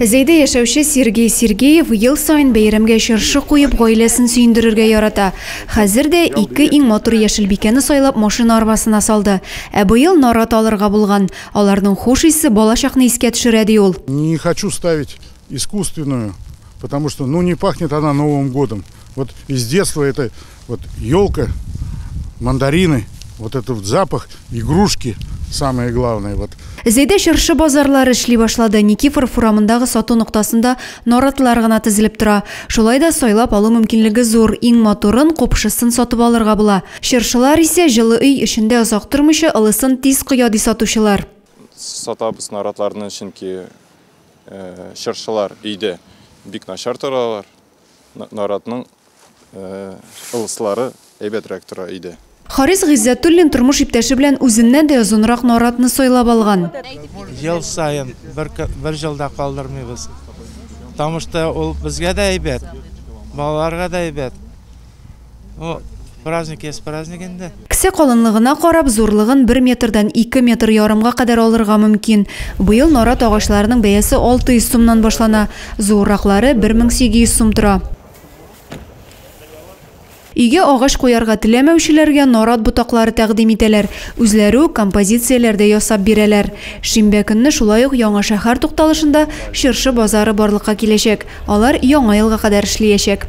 Зәйдә яшәүче Сергей Сергеев ел саен бәйрәмгә чыршы куеп, гаиләсен сөендерергә ярата. Хәзер дә ике иң матур яшелбикәне сайлап машина арбасына салды. Ә быел нарат алырга булган. Аларның хуш исе балачакны искә төшерә, ди ул. Не хочу ставить искусственную. Потому что ну не пахнет она новым годом. Вот из детства это вот елка, мандарины, вот этот вот запах, игрушки самое главное. Вот. Зәйдә чыршы базарлары эшли башлады. Никифор фурамындагы сату ноктасында наратлар гына тезелеп тора. Шулай да сайлап алу мөмкинлеге зур. Иң матурын, купшысын сатып алырга була. Чыршылар исә җылы өй эчендә озак тормыйча, ылысын тиз коя ди сатучылар. Сатабыз наратларны, чөнки Э, чыршылар өйдә бик начар торалар наратның э, ылыслары әйбәтрәк тора өйдә Харис Гыйззәтуллин тормыш иптәше белән үзеннән дә озынрак наратны сайлап алган. Ел саен бер, бер жылда калдырмыйбыз. Тамышта ул безгә дә әйбәт, балаларга да әйбәт. О, праздник есть праздник инде. Кесә калынлыгына карап, зурлыгын бер метрдан ике метр ярымга кадәр алырга мөмкин. Быел нарат агачларының бәясе 600 сумнан башлана, зуырраклары 1800 сум тора. Өйгә агач куярга теләмәүчеләргә нарат ботаклары тәкъдим итәләр, үзләре үк композицияләр дә ясап бирәләр. Шимбә көнне шулай ук Яңа шәһәр тукталышында чыршы базары барлыкка киләчәк, алар Яңа елга кадәр эшлиячәк.